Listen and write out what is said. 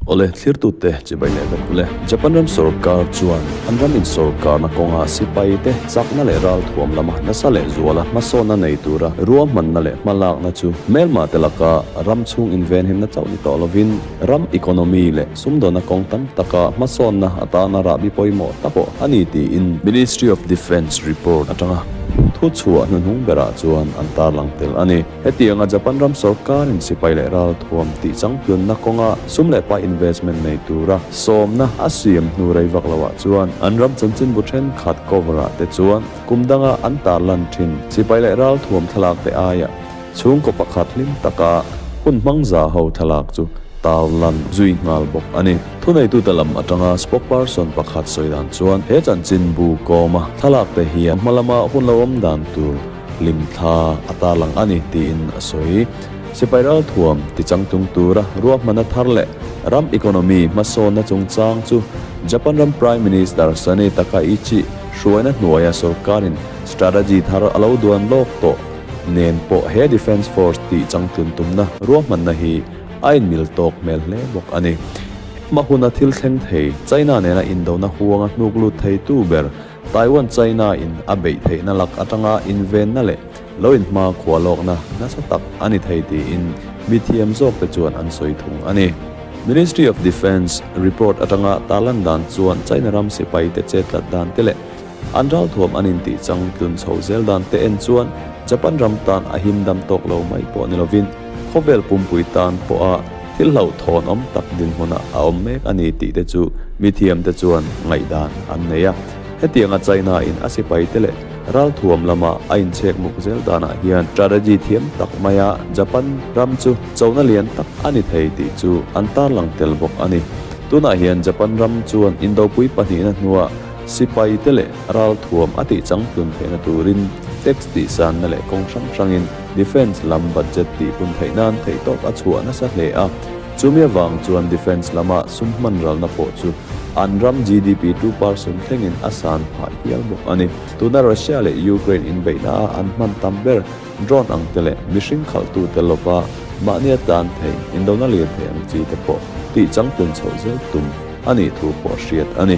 Awle, thlirtute chibai leh vek u le. Japan ram sorkar chuan an ram insawrkarna kawnga sipayite chakna leh ral thuam lama nasa leh zuala hmasawna nei tura ruahmanna leh hmalakna chu hmelmate laka ram chhung invenhimna chauh ni tawh lovin ram economy leh Sumdawna kawng tam taka hmasawnna atana rahbi pawimawh ta pawh a ni tiin Ministry of Defence report atanga thu chhuah hnuhnung berah chuan an tarlang tel a ni. Hetianga Japan ram sawrkarin sipai leh ralthuam tih changtlunna kawnga sum leh pai investment nei tura sawmna a siam hnu rei vak lohah chuan an ram chanchinbu thenkhat cover-ah te chuan kum danga an tarlan thin. Sipai leh ralthuam thlalakte aia. Chhungkaw pakhat hlim taka hun hmang za ho thlalak chu tal lan zui nghal bawk a ni. Thuneitute lam atanga spokesperson pakhat sawi dan chuan he chanchin bu kawma thlalakte hian hma lama hun lo awm dan tur hlim thla a tarlang a ni tiin a sawi. Sipai ralthuam tichang tlung tura ruahmana thar leh ram economy hmasawnna chungchang chu Japan ram Prime Minister Sanae Takaichi hruaina hnuaia sorkarin strategy thar a lo duan lawk tawh. Nen pawh he Defence Force tih changtlun tumna ruahmanna hi a inmil tawk hmel hle bawk a ni. Engmah huna thil thleng thei, China nena indona huanga hnuklut theitu ber, Taiwan China-in a beih theihna lak atanga invenna leh lo inhma khua lawkna nasa tak a ni thei tiin mithiam zawkte chuan an sawi thung a ni. Ministry of Defence report atanga tah lan dan chuan China ram sipaite che tlat dante leh An ral thuam an intih chang tlun chho zel dan te en chuan Japan ram tan a him dam tawk lo mai pawh ni lovin khawvel pumpui tan pawha thil hlauh thawhnawm tak dinhmuna a awm mek a ni tih te chu mi thiamte chuan ngaihdan an nei a. Hetianga China-in a sipai te leh ral thuam lama a inchhek muk zel danah hian strategy thiam tak maia Japan ram chu chona lian tak a ni thei tih chu an tarlang tel bawk a ni. Tunah hian Japan ram chuan Indopui pahnihna hnuah Sipai te leh ral thuam a tih chang tlun theihna turin tax tih sanna leh kawng hrang hrangin defence lam budget tih hun theih nan theih tawp a chhuah nasa hle a. Chumi avang chuan defence lama sum hmanralna pawh chu an ram GDP two person thlengin a san phah hial bawk a ni. Tuna Russia leh Ukraine inbeihna a an hman tam ber. Drone ang te leh mihring khalh tu te lova mahnia tan theih in lo na lir theih ang chi te pawh tih chang tun chhoh zel tum a nih thu pawh a hriat a ni.